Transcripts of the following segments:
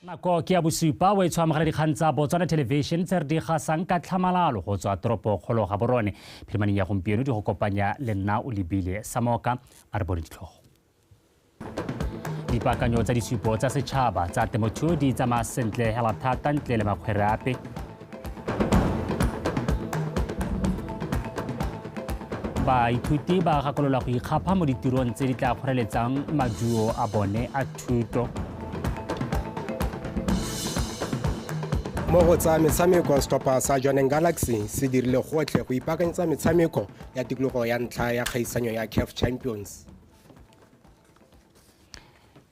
Nako ke ya bosupa o e tshwa mogala dikgang tsa Botswana Television tse re di gasang ka tlhamalalo go tswa toropo kgolo ga borone. Phirimaneng ya gompieno di go kopanya le nna o lebile sa moka a re bone ditlhogo. Dipaakanyo tsa disupo tsa setšhaba tsa temothuo di tsamaya sentle hela thata ntle le makgwere ape baithuti ba gakololwa go ikgapha mo ditirong tse di tla kgoreletsang maduo a bone a thuto mo go tsa metshameko setlhopha sa johneng galaxy se dirile gotlhe go ipaakanyetsa metshameko ya tikologo ya ntlha ya kgaisanyo ya caf champions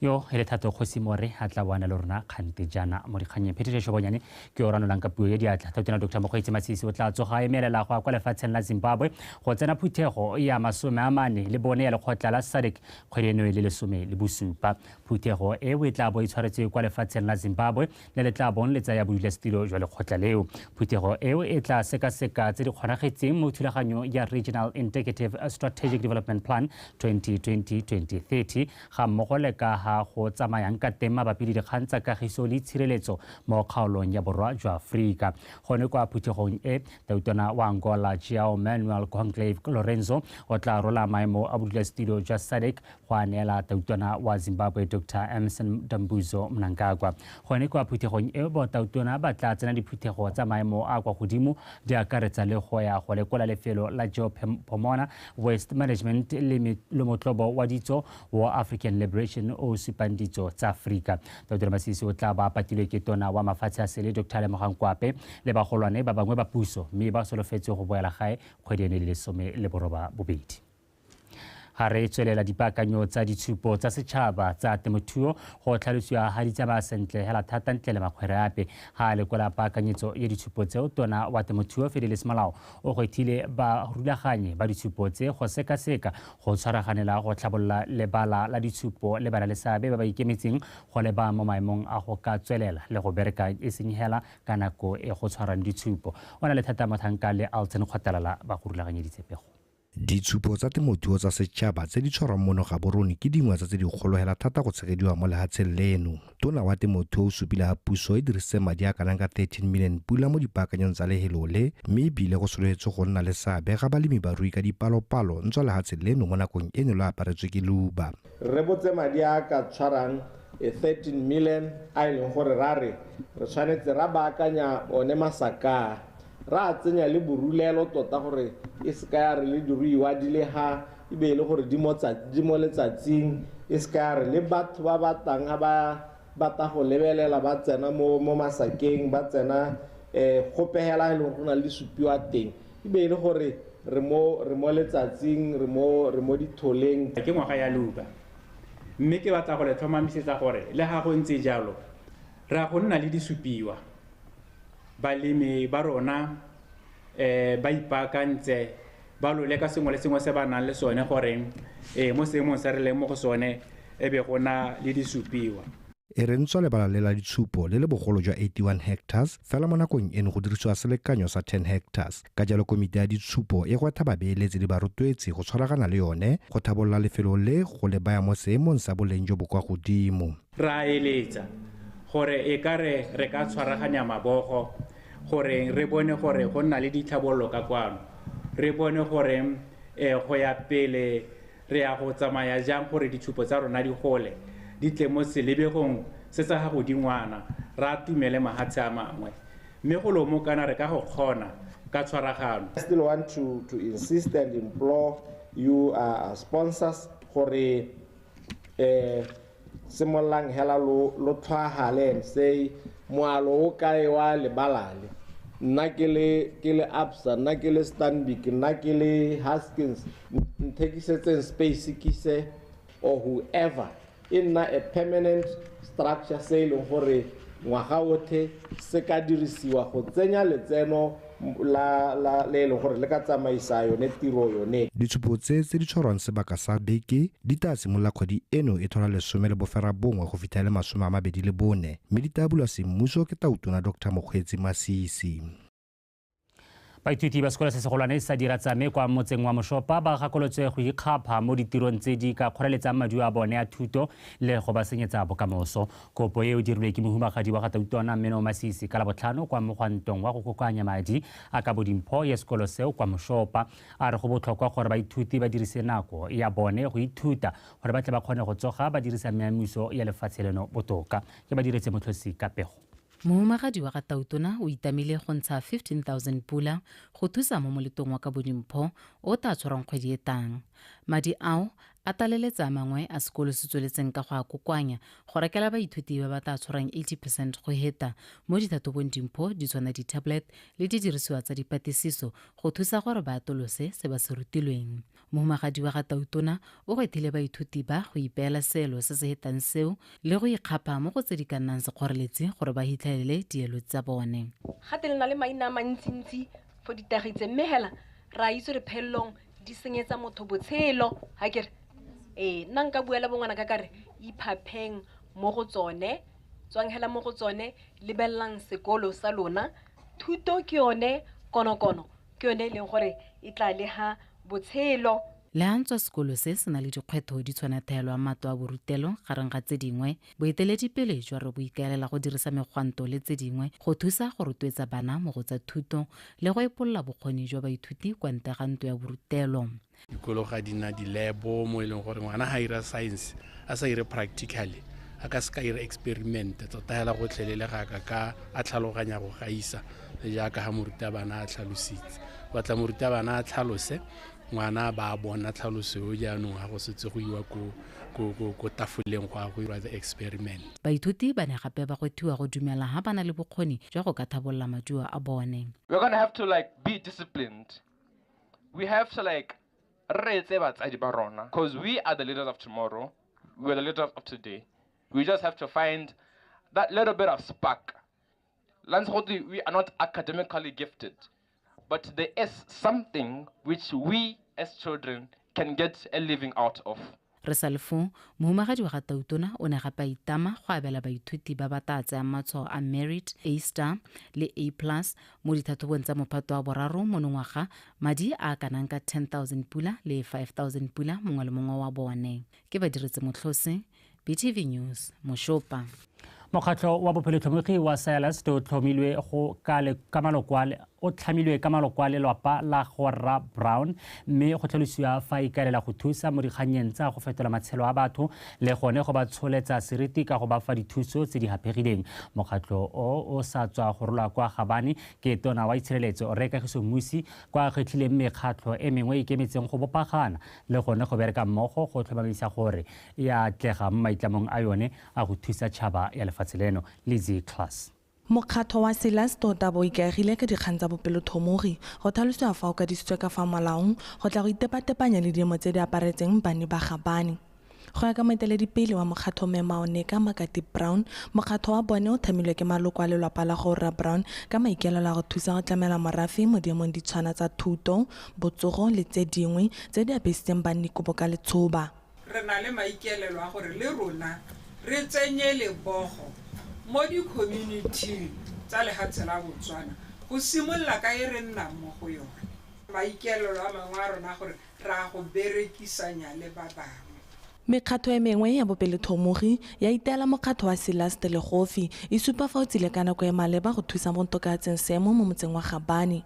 yo e le thato kgosi more a tla boana le rona kgante jaana mo dikganyeng phetišešo bonyane ke yo ranolang ka puo ya diatla tautena dr mokgweetsi masisi o tla tsoga a emelela go ya kwa lefatsheng la zimbabwe go tsena phuthego ya masome a mane le bone ya lekgotla la sadec kgwedi eno e le lesome le bosupa phuthego e o e tla bo e tshwaretswe kwa lefatsheng la zimbabwe le le tla bong le tsaya bodulasetilo jwa lekgotla leo phuthego eo e tla sekaseka tse di kgonagetseng mo thulaganyong ya regional indicative strategic development plan 2020-2030 ga mmogo le ka ga go tsamayang ka teng mabapi le dikgang tsa kagiso le tshireletso mo kgaolong ya borwa jwa aforika gone kwa phuthegong e tautona wa angola jao manuel conclave lorenzo o tla rola maemo a bodulasetilo jwa sadec go a neela tautona wa Zimbabwe Doctor Emmerson Dambudzo Mnangagwa. Gone kwa phuthegong e, botautona ba tla tsena diphuthego tsa maemo a kwa godimo di akaretsa le go ya go lekola lefelo la Geopomona, Waste Management le lomotlobo wa ditso wa African Liberation o o supang ditso tsa Aforika. Tautona Masisi o tla ba patilwe ke tona wa mafatshe a sele Doctor Lemogang Kwape le bagolwane ba bangwe ba puso mme ba solofetswe go boela gae kgwedi eno le lesome le boroba bobedi. Ga re tswelela dipaakanyo tsa ditshupo tsa setšhaba tsa temothuo, go tlhalosiwa ga di tsamaya sentle hela thata ntle le makgwere ape. Ga a lekola paakanyetso ya ditshupo tseo, tona wa temothuo Fidelis Molao o gwethile barulaganyi ba ditshupo tse go sekaseka go tshwaraganela go tlhabolola lebala la ditshupo le bana le seabe ba ba ikemetseng go le ba mo maemong a go ka tswelela le go bereka e seng hela ka nako e go tshwarang ditshupo. O na le thata motlhanka le Alton Kgotalala ba go rulaganyeditse pego. Ditshupo tsa temothuo tsa setšhaba tse di tshwarwang mono Gaborone ke dingwe tsa tse di kgolo hela thata go tshegediwa mo lehatsheng leno. Tona wa temothuo o supile ha puso e dirisitse madi a kanang ka 13 million pula mo dipaakanyong tsa lehelo le mme ebile go sologetse go nna le seabe ga balemi barui ka dipalopalo ntswa lehatshe leno mo nakong e ne lo aparetswe ke luba. Re rebotse madi a a ka tshwarang 13 million a e leng gore ra re re tshwanetse ra baakanya one masakaa Ra tsenya le borulelo tota gore e se ka ya re le diruiwa di le ha e be e le gore di mo letsatsing, e se ka ya re le batho ba ba tlang ha ba batla go lebelela ba tsena mo masakeng, ba tsena go pegela ha e le gore go na le di supiwa teng, e be e le gore re mo letsatsing, re mo ditholeng. Ke ngwaga ya Luka, mme ke batla go le tlhomamisetsa gore le ha go ntse jalo, Re a go nna le disupiwa. Balemi ba rona um ba ipaakantse ba lo leka sengwe le sengwe se ba nang le sone gore um mo seemong se re leng mo go sone e be go na le disupiwa. E re ntswa lebala le la ditshupo le le bogolo jwa 81 hectares, fela mo nakong eno go dirisiwa selekanyo sa 10 hectares. Ka jalo komite ya ditshupo e gwetha babeeletsi le barotloetsi go tshwaragana le yone go thabolola lefelo le go le baya mo seemong sa boleng jo bo kwa godimo. Re a eletsa gore e ka re re ka tshwaraganya mabogo gore re bone gore go nna le ditlhabololo ka kwano, re bone gore go ya pele re ya go tsamaya jang gore ditshupo tsa rona di gole, di tle mo selebegong se sa ga godingwana, re atumele mahatshe a mangwe. Mme go lomokana re ka go kgona ka tshwaragano. I still want to to insist and implore you uh, sponsors gore eh Simololang hela lo lo tlhwaagale and say, Moalo o kae wa lebalale? Nna ke le ke le Absa, nna ke le Stanbic, nna ke le Haskins, n- nthekisetseng space ke se or whoever. E nna a permanent structure se e leng gore ngwaga othe se ka dirisiwa go tsenya letseno la, la, le e leng gore le ka tsamaisa yone tiro yone. Ditshupo tse tse di tshwarwang sebaka sa beke di taa simolola kgwedi eno e thola lesome le boferabongwe go fitlha le masome a mabedi le bone mme di taa bulwa semmuso ke Tautona Doctor Mokgweetsi Masisi. Baithuti ba sekolo se segolwane sa Diratsame kwa motseng wa Moshopa ba gakolotswe go ikgapha mo ditirong tse di ka kgoreletsang maduo a bone a thuto le go ba senyetsa bokamoso. Kopo e o dirilwe ke mohumagadi wa ga Tautona Mmeno Masisi ka Labotlhano kwa mogwantong wa go kokoanya madi a kabo dimpho ya sekolo seo kwa Moshopa. A re go botlhokwa gore baithuti ba dirise nako ya bone go ithuta gore ba tle ba kgone go tsoga ba dirisa meamiso ya lefatshe leno botoka. Ke ba diretse motlhosi ka pego. Mohumagadi wa ga Tautona o itamile go ntsha 15000 pula go thusa mo moletong wa kabo dimpho o taa tshwarwang kgwedi e tang. Madi ao A tlaleletsa a mangwe a sekolo se tsweletseng ka go a kokoanya go rekela baithuti ba ba tla tshwarang 80 percent go heta mo dithathobong dimpho di tshwana di-tablet le didirisiwa tsa dipatisiso go thusa gore ba atolose se ba se rutilweng. Mohumagadi wa ga Tautona o gwethile baithuti ba go ipeela seelo se se hetang seo le go ikgapha mo go tse di ka nnang sekgoreletsi gore ba hitlhelele dielo tsa bone. Gate le na le maina a mantsintsi for ditagi tse mme hela re a itse gore phelelong di senyetsa motho botshelo ga kere ee nna nka bua le bongwana ka kare iphapheng mo go tsone tswang hela mo go tsone lebelelang sekolo sa lona thuto ke yone konokono ke yone e leng gore e tla le ga botshelo Le a ntswa sekolo se se na le dikgwetho di tshwana theelwa mato a borutelo gareng ga tse dingwe Boeteledipele jwa rre bo ikaelela go dirisa megwanto le tse dingwe go thusa go rotloetsa bana mo go tsa thuto le go epolola bokgoni jwa baithuti kwa ntle ga ntlo ya borutelo. Dikolo ga di na dilebo mo e leng gore ngwana ga a ira science a sa ire practically a ka se ka ira experiment tota hela gotlhelele ga ka ka a tlhaloganya go gaisa jaaka ga morutabana a tlhalositse batla morutabana a tlhalose ngwana a ba a bona tlhaloso eo jaanong ga go setse go iwa ko, ko, ko, ko tafoleng go a go irwa the experiment. Baithuti ba ne gape ba gwethiwa go dumela ha ba na le bokgoni jwa go ka thabolola maduo a bone. We're gonna have to like be disciplined, we have to like re reetse batsadi ba rona cause we are the leaders of tomorrow, we're the leaders of today, we just have to find that little bit of spark. la ntsha gotwe we are not academically gifted but there is something which we as children can get a living out of Re sa le foo, mohumagadi wa ga Tautona o ne gape a itama go abela baithuti ba ba taa tseyang matshwao a Merit, A-Star le A-Plus mo dithathobong tsa Mophato wa Boraro monongwaga madi a a kanang ka 10,000 pula le 5,000 pula mongwe le mongwe wa bone. Ke Badiretsemotlhose. btv news mošopa mokgatlho wa bophelotlhomogi wa silas o tlhomilwe go ka malokwale o tlhamilwe ka maloko a lelwapa la gorra brown mme go tlhalosiwa fa e ikaelela go thusa mo dikgannyeng tsa go fetola matshelo a batho le gone go ba tsholetsa seriti ka go ba fa dithuso tse di gapegileng mokgatlho o o sa tswa go rolwa kwa gabane ke tona wa itshireletso rre kagiso mmusi kwa kgetlhileng mekgatlho e mengwe e ikemetseng go bopagana le gone go bereka mmogo go tlhomamisa gore e a atlega mo maitlamong a yone a go thusa tšhaba ya lefatshe leno. Lizzie Class. Mokgatlho wa Silas tota bo ikaegile ka dikgang tsa bopelothomogi, go tlhalosiwa fa o kadisitswe ka fa molaong, go tla go itepatepanya le diemo tse di aparetseng banni ba ga bani. Go ya ka moeteledipele wa mokgatlho Mme Maoneka Makati Brown, mokgatlho wa bone o thamilwe ke maloko a lelwapa la go Rra Brown ka maikaelelo a go thusa go tlamela morafe mo diemong di tshwana tsa thuto, botsogo le tse dingwe tse di apesitseng banni kobo ka letshoba. Re na le maikaelelo a gore le rona re tsenye lebogo mo dikhominiting tsa lehatshe la Botswana go simolola ka e re nnang mo go yone. Maikaelelo a mangwe a rona a gore ra go berekisanya le ba bangwe. Mekgatlho e mengwe ya bopelethomogi ya iteela mokgatlho wa Celeste Legofi e supa fa o tsile ka nako e maleba go thusa mo go tokaatseng seemo mo motseng wa Gabane.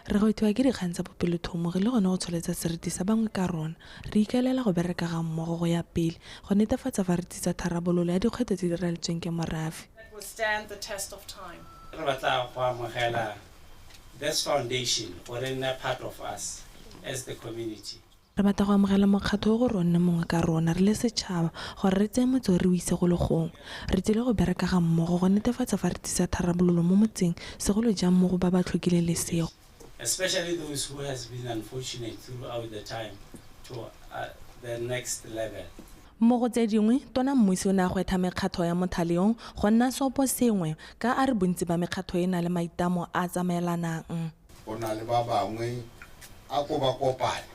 Re gwetlhiwa ke dikgang tsa bopelethomogi le gone go tsholetsa seriti sa bangwe ka rona. Re ikaelela go bereka ga mmogo go ya pele go netefatsa fa re tsitsa tharabololo ya dikgwetlho tse di raletsweng ke morafe. Re batla go amogela This foundation o re nna part of us as the community. Re batla go amogela mokgatlho o go re o nne mongwe ka rona re le setšhaba gore re tseye motse o re o ise go le gongwe. Re tsile go bereka ga mmogo go netefatsa fa re tlisa tharabololo mo motseng segolo jang mo go ba ba tlhokileng lesego. especially those who has been unfortunate throughout the time to the next level. Mo go tse dingwe, Tona Mmusi o ne a gwetha mekgatlho ya mothale o go nna seoposengwe ka a re bontsi ba mekgatlho e na le maitlamo a a tsamaelanang. Go na le ba bangwe, a ko ba kopane,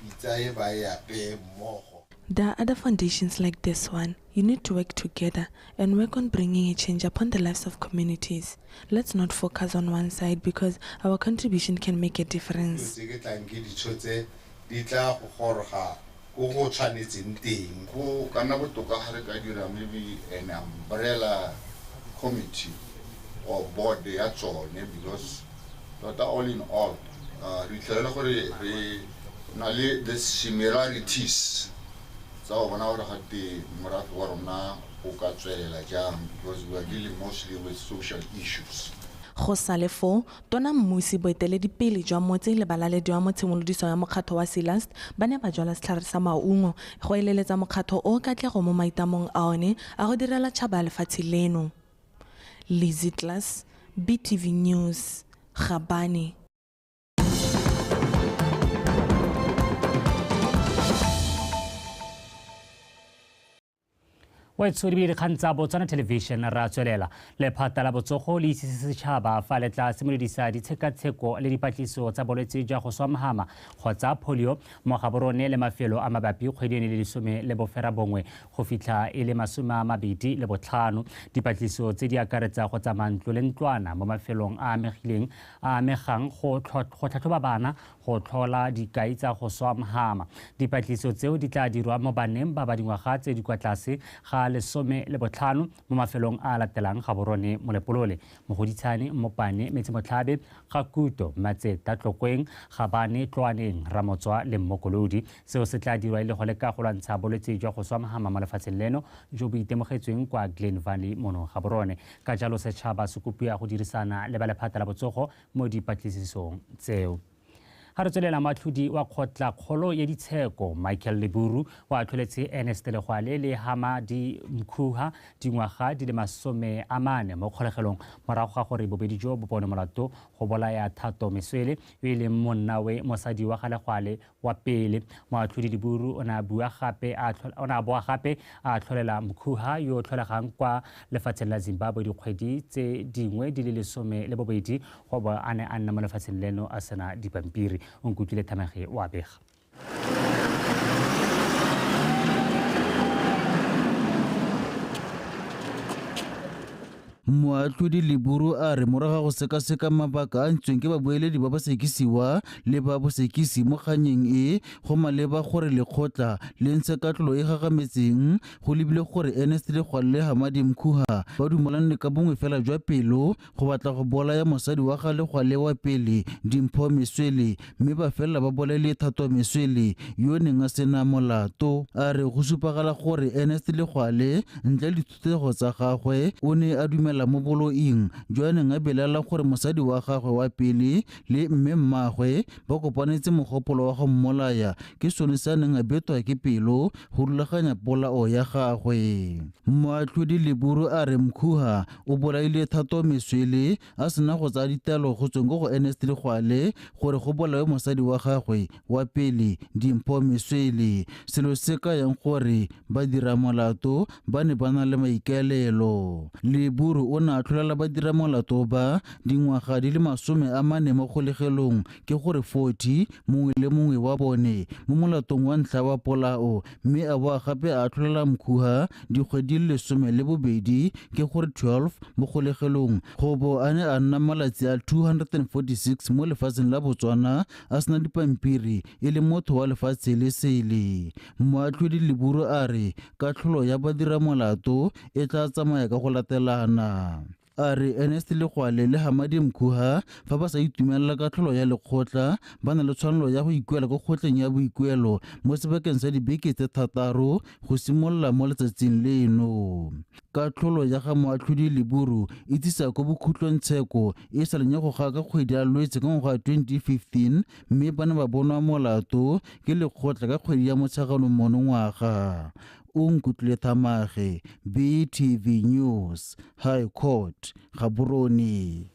pitsa e ba e apeye mmogo. There are other foundations like this one, you need to work together and work on bringing a change upon the lives of communities. Let's not focus on one side because our contribution can make a difference. Dilo tse ke tlang ke di tshotse di tla go goroga ko go tshwanetseng teng. Go ka nna botoka ga re ka dira maybe an umbrella committee or board ya tsone because tota all in all re itlhelela gore re na le the similarities tsa go bona gore ga te morafe wa rona o ka tswelela jang because we are dealing mostly with social issues. Go sa le foo, Tona Mmusi, boeteledipele jwa motse le balalediwa mo tshimolodiso ya mokgatlho wa Silast ba ne ba jwala setlhare sa maungo go eleletsa mokgatlho o katlego mo maitamong a one a go direla tšhaba lefatshe leno. Lizzy Klass, BTV News, Gabane. wetsho di be dikgang tsa botswana television ra tswelela lephata la botsogo le itsise setšhaba fa le tla simolodisa ditshekatsheko le dipatlisiso tsa bolwetse jwa go swamhama kgotsa polio mo gaborone le mafelo a mabapi kgwedi ene le lesome le bofera bongwe go fitlha e le masome a mabedi le botlhano dipatlisiso tse di akaretsa go tsamaya ntlo le ntlwana mo mafelong a amegileng a amegang go tlhatlhoba bana go tlhola dikai tsa go swa mhama. Dipatlisiso tseo di tla dirwa mo baneng ba ba dingwaga tse di kwa tlase ga lesome le botlhano mo mafelong a a latelang Gaborone, Molepolole, Mogoditshane, Mmopane, Metsemotlhabe, Gakuto, Matseta, Tlokweng, Gabane, Tloaneng, Ramotswa le Mmokolodi. Seo se tla dirwa e le go leka go lwantsha bolwetse jwa go swa mhama mo lefatsheng leno jo bo itemogetsweng kwa Glen Valley mono Gaborone. Ka jalo setšhaba se kopiwa go dirisana le ba lephata la botsogo mo dipatlisisong tseo. Ga re tswelela, moatlhodi wa kgotlakgolo ya ditsheko Michael Leburu o atlholetse Ernest Legwale le Hamadi Mkhuha dingwaga di le masome a mane mo kgolegelong morago ga gore bobedi jo bo bonwe molato go bolaya Thato Meswele yo e leng monnawe mosadi wa ga Legwale wa pele. Moatlhodi Diburu o ne a bua gape a o ne a boa gape a tlholela Mkhuha yo o tlholegang kwa lefatsheng la Zimbabwe dikgwedi tse dingwe di le lesome le bobedi go bo a ne a nna mo lefatsheng leno a sena dipampiri. O nkutlwile Thamage o a bega. Moatlhodi Leburu a re morago ga go sekaseka mabaka a ntsweng ke babueledi ba bosekisiwa le ba bosekisi mo kganyeng e, go maleba gore lekgotla le ntshe katlolo e gagametseng go lebile gore Ernest le Gwalle Hamadi Mkhuha ba dumalanne ka bongwe fela jwa pelo go batla go bolaya mosadi wa ga Legwale wa pele Dimpho Meswele mme ba felela ba bolaile Thato Meswele yo o neng a sena molato. A re go supagala gore Ernest Legwale ntle le Dithuthego tsa gagwe o ne a dumela mo boloing jo a neng a belaela gore mosadi wa gagwe wa pele le mme mmagwe ba kopanetse mogopolo wa go mmolaya ke sone se a neng a betwa ke pelo go rulaganya polao ya gagwe. Moatlhodi Leburu a re Mkhuha o bolaile Thato Meswele a sena go tsaya ditaelo go tsweng ko go Ernest Legwale gore go bolawe mosadi wa gagwe wa pele Dimpho Meswele selo se ka yang gore ba dira molato ba ne ba na le maikaelelo. Leburu o ne a tlholela ba dira molato ba dingwaga di le masome a mane mo kgolegelong ke gore 40 mongwe le mongwe wa bone mo molatong wa ntlha wa polao mme a boa gape a atlholela mkhuha dikgwedi le lesome le bobedi ke gore 12 mo kgolegelong go bo a ne a nna malatsi a 246 mo lefatsheng la botswana a sena dipampiri e le motho wa lefatshe le sele moatlhodi leburu a re katlholo ya badiramolato e tla tsamaya ka go latelana A re Ernest Legwale le Hamadi Mkuha fa ba sa itumelela katlholo ya lekgotla ba na le tshwanelo ya go ikuela ko kgotleng ya boikuelo mo sebakeng sa dibeke tse thataro go simolola mo letsatsing leno. Katlholo ya ga Moatlhodi Leburu e tsisa ko bokhutlong tsheko e sa lenya go ga ka kgwedi ya Lwetse ka ngwaga wa 2015 mme ba ne ba bonwa molato ke lekgotla ka kgwedi ya Motsheganong monongwaga. o nkutlwile thamage BTV News High Court Gaborone.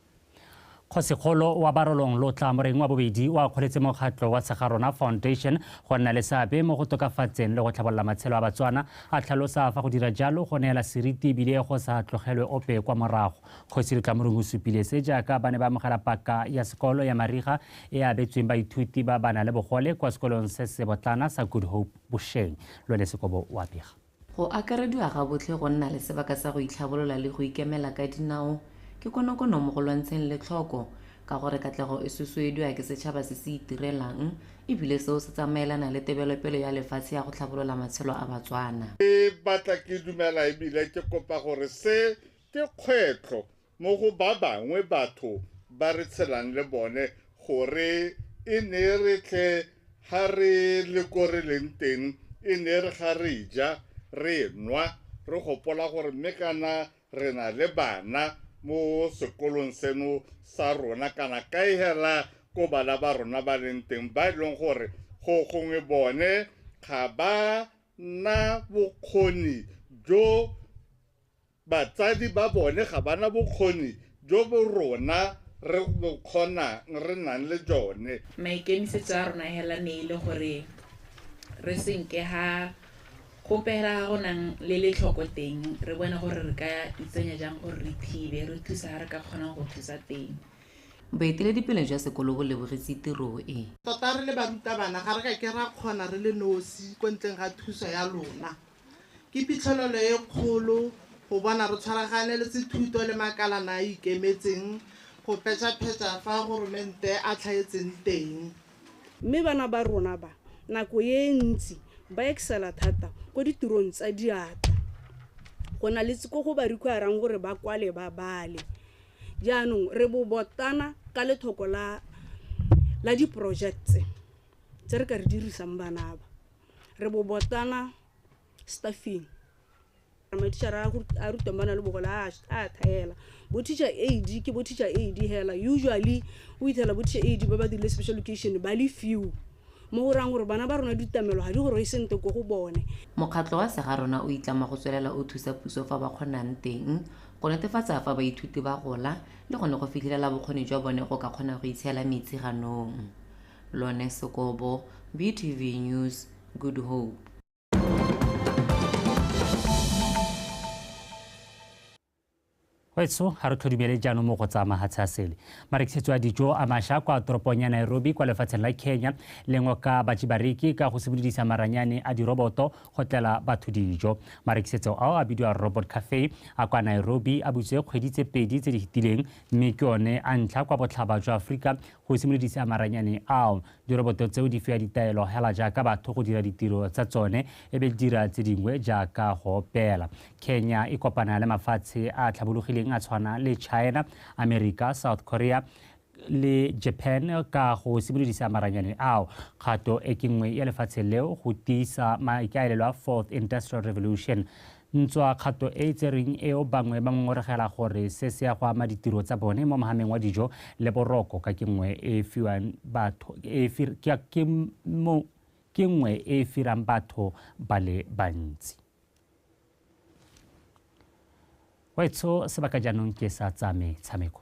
Kgosikgolo wa Barolong Lotla Moreng wa Bobedi o akgoletse mokgatlho wa Segarona Foundation go nna le seabe mo go tokafatseng le go tlhabolola matshelo a Batswana, a tlhalosa fa go dira jalo go neela seriti ebile go sa tlogelwe ope kwa morago. Kgosi Lotla Moreng o supile se jaaka ba ne ba amogela paka ya sekolo ya mariga e abetsweng baithuti ba ba nang le bogole kwa sekolong se se botlana sa Good Hope. bošeng lwele sekobo wa pega. Go akarediwa gabotlhe go nna le sebaka sa go itlhabolola le go ikemela ka dinao ke konokono mo go lwantsheng letlhoko, ka gore katlego e susuediwa ke setšhaba se se itirelang e bile seo se tsamaelana le tebelopele ya lefatshe ya go tlhabolola matshelo a Batswana. Ke batla, ke dumela e bile ke kopa gore se ke kgwetlho Mo go ba bangwe batho ba re tshelang le bone gore e ne e re tle ga re le ko re leng teng e ne e re ga re ja re nwa re gopola gore mme kana re na le bana mo sekolong seno sa rona kana kae hela ko bana ba rona ba leng teng ba e leng gore go gongwe bone ga ba na bokgoni jo Batsadi ba bone ga ba na bokgoni jo bo rona re bo kgonang, re nang le jone. Maikemisetso a rona hela ne e le gore re se nke ga gope hela ga go nang le letlhoko teng, re bone gore re ka itsenya jang gore re thibe, re thusa ga re ka kgonang go thusa teng. Boeteledipele jwa sekolo bo lebogetse tiro e. Tota re le barutabana ga re ka ke ra kgona re le nosi ko ntleng ga thuso ya lona. Ke phitlhelelo e kgolo go bona re tshwaragane le sethuto le makalana a a ikemetseng go petšaphetša fa Goromente a tlhaetseng teng. Mme bana ba rona ba nako e ntsi ba excela thata ko ditirong tsa diatla go na le ko go ba require-rang gore ba kwale ba bale. Jaanong re bobotana ka lethoko la la di-projects tse re ka re dirisang bana ba. re bo botsana staffing mathišhara a rutang ba na le bogole a tha hela bo teacher aid ke bo teacher aid hela usually o fitlhela bo teacher aid ba ba dirile special location ba le few mo go rayang gore bana ba rona ditamelo ga di gore e sentle ko go bone mokgatlho wa sega rona o itlama go tswelela o thusa puso fa ba kgonang teng go netefatsa fa baithuti ba gola le gone go fitlhelela bokgoni jwa bone go ka kgona go itshela metsi ganong Lone Sekobo, BTV News, Good Hope. wetso ga re tlhodumele jaanong mo go tsa mahatshe a sele marekisetso a dijo a masha kwa toropong ya nairobi kwa lefatsheng la kenya lengwe ka batsibareki ka go simolodisa maranyane a diroboto go tlela batho dijo marekisetso ao a bidiwa robot cafe a kwa nairobi a butse kgwedi tse pedi tse di fetileng mme ke one a ntlha kwa botlhaba jwa aforika Go simolodisa maranyane ao, diroboto tseo di fiwa ditaelo hela jaaka batho go dira ditiro tsa tsone e be di dira tse dingwe jaaka go opela. Kenya e kopana le mafatshe a a tlhabologileng a tshwana le China, Amerika, South Korea, le Japan ka go simolodisa maranyane ao. Kgato e ke nngwe ya lefatshe leo go tiisa maikaelelo a Fourth Industrial Revolution. Ntswa kgato e e tserweng eo bangwe ba ngongorogela gore se se ya go ama ditiro tsa bone mo mohameng wa dijo le boroko ka ke nngwe e e fiwang batho e e fir, ke, ke, mo, ke nngwe e e firang batho ba le bantsi. Wetsho sebaka jaanong ke sa tsa metshameko.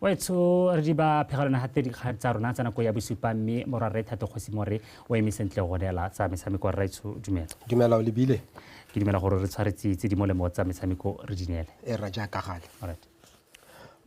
wetsho re di ba phegelwana naga tse dikgang tsa rona tsa nako ya bosupa mme morwarre thato kgosi more o eme sentle go neela tsa metshameko rra etsho dumela dumela o lebile ke dumela gore re tshwaretse tse di molemo tsa metshameko re di neele e ra jaaka gale alright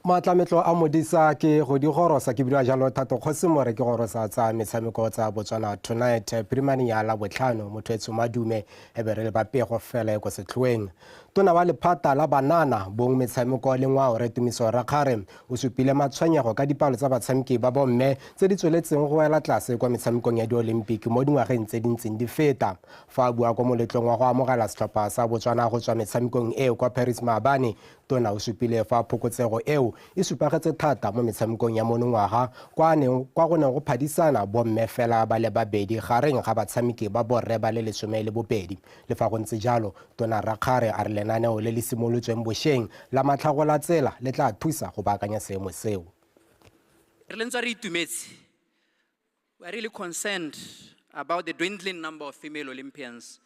matlametlo a modisa ke go di gorosa ke bina jalo thato kgosi more ke gorosa tsa metshameko tsa botswana tonight primane ya la botlhano motho e tshomadume e be re le bapego fela e ko setlhoeng Tona wa lephata la banana, bong, metshameko le ngwao Rre Tumiso Rakgare o supile matshwenyego ka dipalo tsa batshameki ba bomme tse di tsweletseng go wela tlase kwa metshamekong ya diolimpiki mo dingwageng tse di ntseng di feta. Fa a bua kwa moletlong wa go amogela setlhopha sa Botswana go tswa metshamekong eo kwa Paris maabane, Tona o supile fa phokotsego eo e supagetse thata mo metshamekong ya monongwaga kwa kwa go neng go phadisana bomme fela ba le babedi gareng ga batshameki ba borre ba le lesome le bobedi Le fa go ntse jalo, Tona Rakgare a re lenaneo le le simolotsweng bosheng la Matlhagolatsela le tla thusa go baakanya seemo seo. Re le ntswa re itumetse, we are really concerned about the dwindling number of female Olympians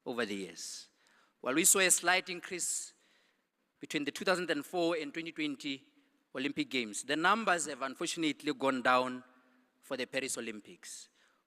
over the years. While we saw a slight increase between the 2004 and 2020 Olympic Games, the numbers have unfortunately gone down for the Paris Olympics.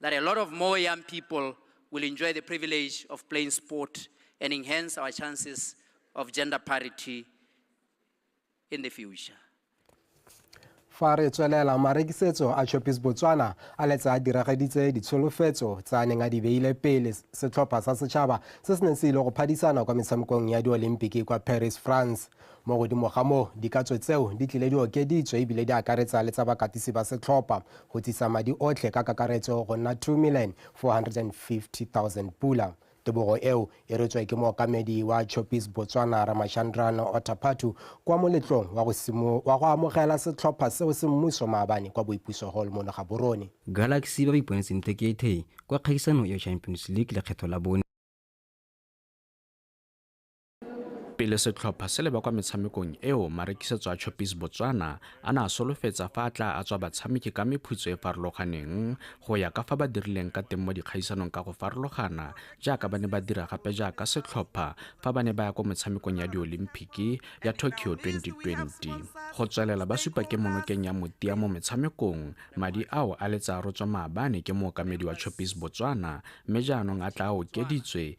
that a lot of more young people will enjoy the privilege of playing sport and enhance our chances of gender parity in the future. fa re tswelela marekisetso a chopis botswana a letse a diragaditse ditsholofetso tse a neng a di beile pele setlhopha sa setšhaba se se neng se ile go phadisana kwa metshamekong ya diolympiki kwa paris france Mo godimo ga moo, dikatso tseo di tlile di okeditswe e bile di akaretsa le tsa bakatisi ba setlhopha, go tsisa madi otlhe ka kakaretso go nna R2.45 milione. Tebogo eo e retswe ke mookamedi wa Choppies Botswana Ramachandran Ottaphattu kwa moletlong wa go simo wa go amogela setlhopha seo se mmuso maabane kwa Boipuso Hall mo Legaborone. Galaxy ba ba iponetseng tekete kwa kgaisanong eo Champions League lekgetho la bone. Pele setlhopha se leba kwa metshamekong eo, marekisetso a Choppies Botswana a na a solofetsa fa a tla a tswa batshameki ka mephutso e farologaneng go ya ka fa ba dirileng ka teng mo dikgaisanong ka go farologana jaaka ba ne ba dira gape jaaka setlhopha fa ba ne ba ya kwa motshamekong ya diolimpiki ya Tokyo 2020. Go tswelela ba supa ke monokeng ya motia mo metshamekong, madi ao a letsa a rotswa maabane ke mookamedi wa Choppies Botswana mme jaanong a tla a okeditswe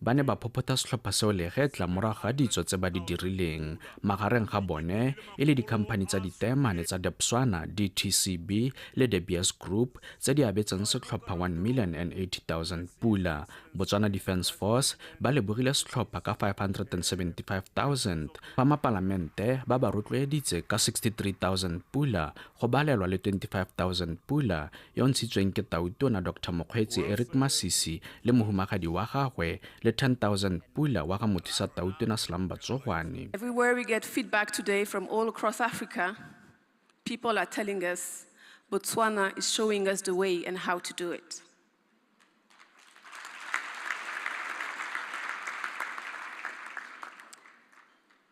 Ba ne ba phophotha setlhopha seo legetla morago ga ditso tse ba di dirileng magareng ga bone e le dikhamphani tsa ditaemane tsa Debswana DTCB le De Beers Group tse di abetseng setlhopha 1 million and 80,000 pula. Botswana Defence Force ba lebogile setlhopha ka 575,000 fa mapalamente ba ba rotloeditse ka 63,000 pula go balelwa le 25,000 pula yo o ntshitsweng ke Tautona Dr Mokgweetsi Eric Masisi le mohumagadi wa gagwe le 10000 Pula wa ga Mothisa Tautona Slumber Tsogwane. Everywhere we get feedback today from all across Africa, people are telling us Botswana is showing us the way and how to do it.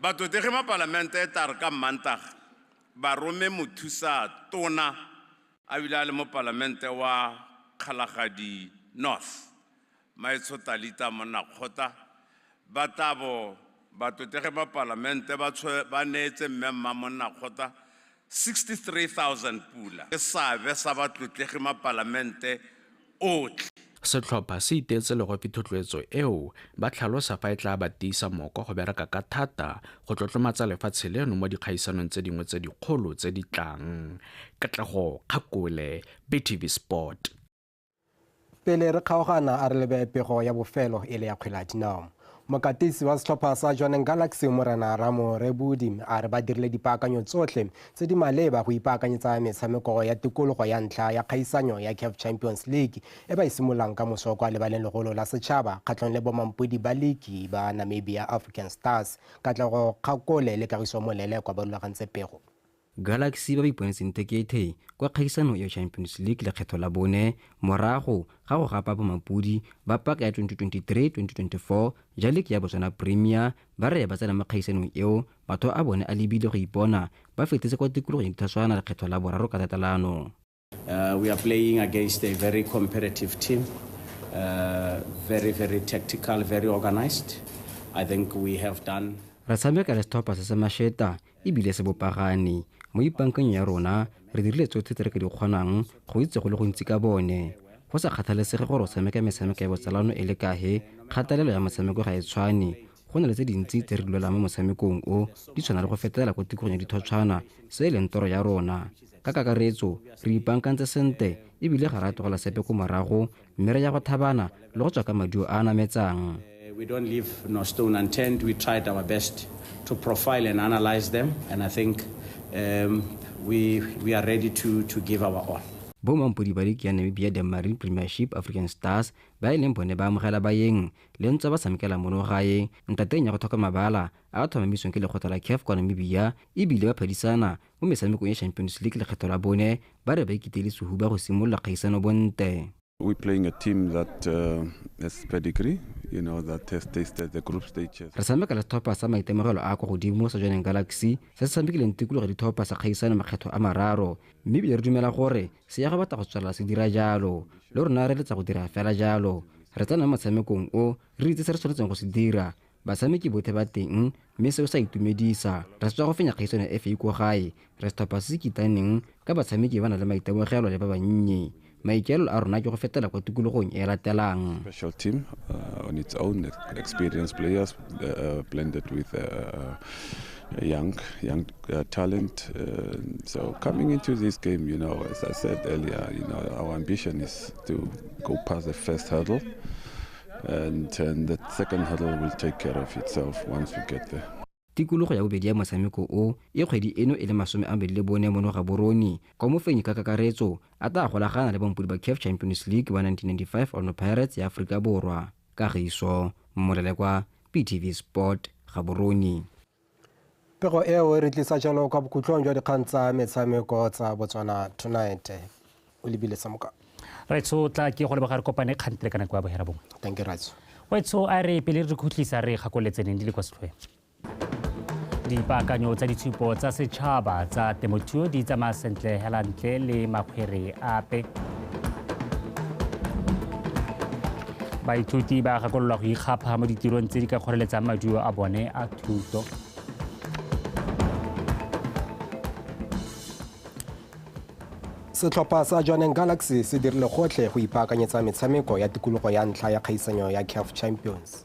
Batlotlegi ba Palamente e tla re ka Mmantaga ba rome mothusa tona a bile a le mo Palamente wa Kgalagadi North, Maetsho Talita Monnakgotla ba tla bo batlotlegi ba Palamente ba neetse Mme Mma Monnakgotla 63,000 pula ke seabe sa batlotlegi mapalamente otlhe. Setlhopha se iteetse legopi thotloetso eo, ba tlhalosa fa e tlaa ba tiisa moko go bereka ka thata go tlotlomatsa lefatshe leno mo dikgaisanong tse dingwe tse dikgolo tse di tlang. Katlego Kgakole, BTV Sport. pele re kgaogana a re lebe pego ya bofelo e le ya kgwele ya dinao mokatisi wa setlhopha sa johaneng galaxy morena ramo rebudi a re ba dirile dipaakanyo tsotlhe tse di maleba go ipaakanyetsa metshameko ya tikologo ya ntlha ya kgaisanyo ya caf champions league e ba e simololang ka moso kwa lebaleng legolo la setšhaba kgatlhong le bomampodi ba liki ba namibia african stars katlego kgakole le kagiso molele kwa ba rulagantse pego Galaxy ba ba iponetseng tekete kwa kgaisanong ya Champions League lekgetho la bone morago ga go gapa bomampodi ba paka ya 2023-2024 ja leke ya Botswana Premier ba re ba tsena mo kgaisanong eo matho a bone a lebile go ipona ba fetetse kwa tikologong ya Dithaswana lekgetho la boraro ka tatelano. Uh, we are playing against a very competitive team, uh, very, very tactical, very organized. I think we have done. re tshameka le setlhopha se se masheta ebile se bopagane mo ipankeng ya rona re dirile tsotlhe tse re ka di kgonang go itse go le gontsi ka bone go sa kgathalesege gore o tshameka metshameko ya botsalano e le kahe kgatelelo ya motshameko ga e tshwane go na le tse dintsi tse re di lwelang mo motshamekong o di tshwana le go fetelela ko tikolong ya dithotshwana se e leng toro ya rona ka kakaretso re ipankantse sente ebile ga ra tlogela sepe ko morago mme re ya go thabana le go tswa ka maduo a a nametsang we don't leave no stone unturned. We tried our best to profile and analyze them, and I think um, we, we are ready to, to give our all. bomampodi ba liki ya namibia denmarine premiership african stars ba e leng bone ba amogela baeng le ntswa ba samkela mono gae ntateng ya go thoka mabala a a tlhomamisweng ke lekgotla la CAF kwa Namibia e bile ba phadisana mo metshamekong ya Champions League lekgetho la bone ba re ba ikitele sehuba go simolola kgaisano bonte. We're playing a team that uh, has pedigree, you know, that has tasted the group stages. Re sameka le setlhopha sa maitemogelo a kwa godimo sa Jwaneng Galaxy se se samekileng tikologo ya ditlhopha sa kgaisano makgetho a mararo mme ebile re dumela gore seyaga batla go tswelela se dira jalo le rona re letla go dira fela jalo re tsena mo motshamekong o re itse se re tshwanetseng go se dira batshameki bothe ba teng mme seo sa itumedisa re setswa go fenya kgaisano ya fa ko gae re setlhopha se se kitaneng ka batshameki ba na le maitemogelo le ba bannye maikaelelo a rona ke go fetela kwa tikologong e latelang special team uh, on its own experienced players uh, uh blended with uh, uh A young, young uh, talent. Uh, so coming into this game, you know, as I said earlier, you know, our ambition is to go past the first hurdle, and, and the second hurdle will take care of itself once we get there. tikologo ya bobedi ya motshameko o e kgwedi eno e le masome a mabedi le bone mono ga boroni kwa mofenyi ka kakaretso a tla golagana le bampodi ba caf champions league ba 1995 ono pirates ya aforika borwa Kagiso Molelekwa, PTV Sport, Gaborone. Pego eo e re tlisa jalo kwa bokhutlong jwa dikgang tsa metshameko tsa Botswana Tonight. O lebile sa moka. Raitso tla ke go leboga re kopane kgantele ka nako ya bohera bongwe. Thank you Raitso. Waitso a re pele re khutlisa re gakoletse neng di le kwa setlhoeng. dipaakanyo tsa ditshupo tsa setšhaba tsa temothuo di tsamaya sentle hela ntle le makgwere ape baithuti ba gakololwa go ikgapha mo ditirong tse di ka kgoreletsang maduo a bone a thuto setlhopha sa johaneng galaxy se dirile gotlhe go ipaakanyetsa metshameko ya tikologo ya ntlha ya kgaisanyo ya caf champions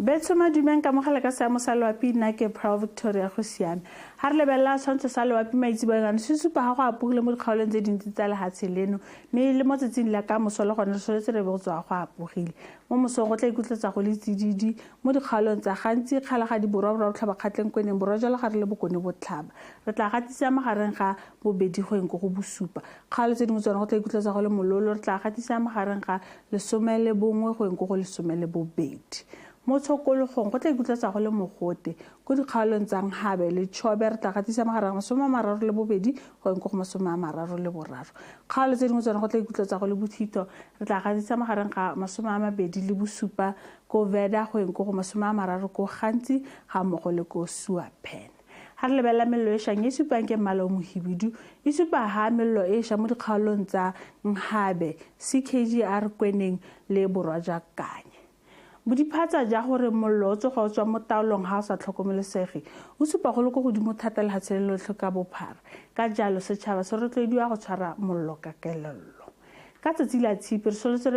Betso Madume, Nkamogele ka seamo sa loapi nna ke Pearl Victoria go siame. Ga re lebelela tshwantsho sa loapi maitseboeng ano se supa ga go apogile mo dikgaolong tse dintsi tsa lehatshe leno mme le mo tsatsing la ka moso le gone re soletse re be go tswa go apogile. Mo mosong go tla ikutletsa go le tsididi mo dikgaolong tsa gantsi kgalagadi borwa borwa botlhabakgatleng kweneng borwa jalo ga re le bokone botlhaba. Re tla gatisa magareng ga bobedi go eng ko go bosupa. Kgale tse dingwe tsone go tla ikutletsa go le mololo, re tla gatisa magareng ga lesome le bongwe go yeng ko go lesome le bobedi. Mo tshokologong go tla ikutletsa go le mogote, ko dikgaolong tsa Nghabe le Chobe re tla gatisa magareng ga masome a mararo le bobedi go yeng ko go masome a mararo le boraro. Kgaolo tse dingwe tsone go tla ikutletsa go le bothitho, re tla gatisa magareng ga masome a mabedi le bosupa ko Veda go yeng ko go masome a mararo ko Ghanzi ga mmogo le ko Suapen. Ha re lebelela mello e shang e supang ke mmala o mohibidu, e supa ha mello e sha mo dikgaolong tsa Nghabe, CKGR Kweneng le Borwa jwa Kanye. Bodiphatsa jwa gore mollo o tsoga o tswa mo taolong ha o sa tlhokomelesege o supa go le ko godimo thata lehatshe le lotlhe ka bophara, ka jalo setšhaba se rotloediwa go tshwara mollo ka kelello. Ka tsatsi la tshipi, re solotse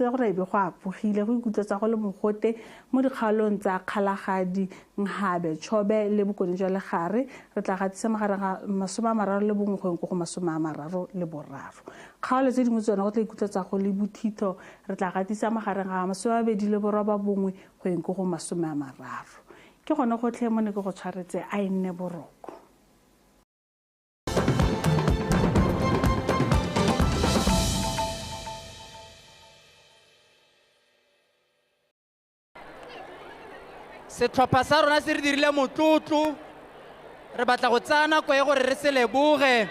gore e be go apogile, go ikutlwetsa go le mogote mo dikgaolong tsa Kgalagadi, Nghabe, Chobe le Bokone jwa Legare. Re tla gatisa magareng ga masome a mararo le bongwe go yeng ko go masome a mararo le boraro. Kgaolo tse dingwe tsone go tla ikutlwetsa go le bothitho, re tla gatisa magareng ga masome a mabedi le boroba bongwe go yeng ko go masome a mararo. Ke gone gotlhe mo ne ke go tshwaretse, a e nne boroko. setlhopha sa rona se re dirile motlotlo re batla go tsaya nako e gore re se leboge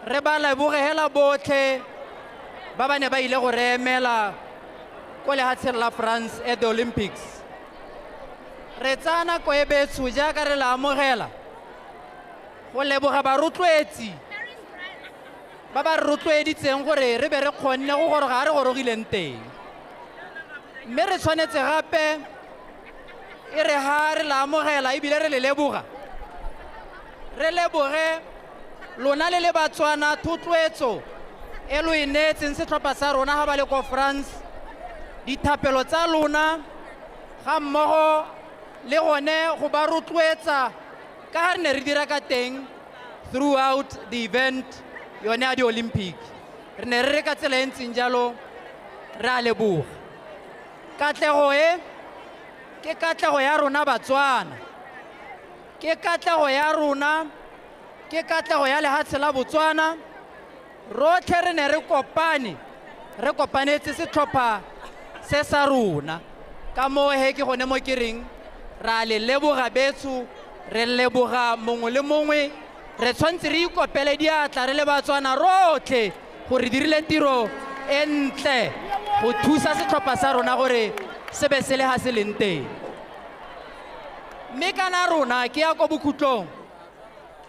re ba leboge hela botlhe ba ba ne ba ile go re emela ko lehatsheng la france at the olympics re tsaya nako e betsho jaaka re le amogela go leboga barotloetsi ba ba re rotloeditseng gore re be re kgonne go goroga a re gorogileng teng mme re tshwanetse gape e re ga re la amogela ebile re le leboga re leboge lona le le batswana thotloetso e lo e neetseng setlhopha sa rona ga ba le ko france dithapelo tsa lona ga mmogo le gone go ba rotloetsa ka ga re ne re dira ka teng throughout the event yone ya di-olympic re ne re re ka tsela e ntseng jalo re a leboga katlego e ke katlego ya rona batswana ke katlego ya rona ke katlego ya lehatshe la botswana rotlhe re ne re kopane re kopanetse setlhopha se sa rona ka moo he ke gone mo ke reng ra le leboga betso re leboga mongwe le mongwe re tshwanetse re ikopele diatla re le batswana rotlhe gore dirile tiro e ntle go thusa setlhopha sa rona gore se be se le ga se leng teng mme kana rona ke ya ko bokhutlong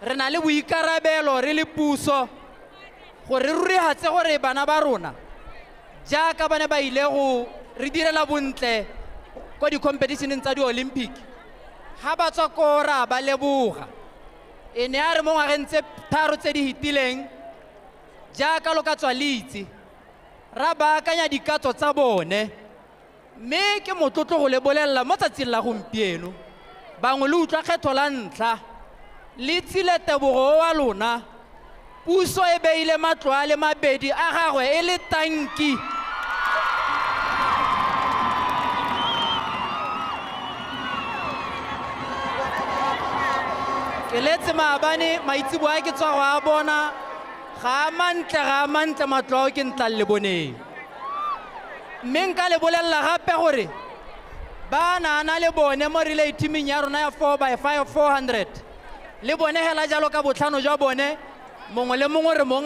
Re na le boikarabelo re le puso gore re rurehatse gore bana ba rona jaaka ba ne ba ile go re direla bontle ko dikhompetišeneng tsa di-olympic, ga ba tswa koo ra ba leboga. E ne ya re mo ngwageng tse tharo tse di fetileng, jaaka lo ka tswa le itse, ra baakanya dikatso tsa bone. Mme ke motlotlo go le bolelela mo tsatsing la gompieno, bangwe lo utlwa kgetho la ntlha, le tsile tebogo oa lona, puso e beile matlo a le mabedi a gagwe e le tanki. Ke letse maabane maitseboa ke tswa go a bona, ga a mantle, ga a mantle matlo ao ke ntlang le boneng. mme nka le bolelela gape gore ba naana le bone mo relay teaming ya rona ya 4 by 5 400 le bone hela jalo ka botlhano jwa bone mongwe le mongwe re mong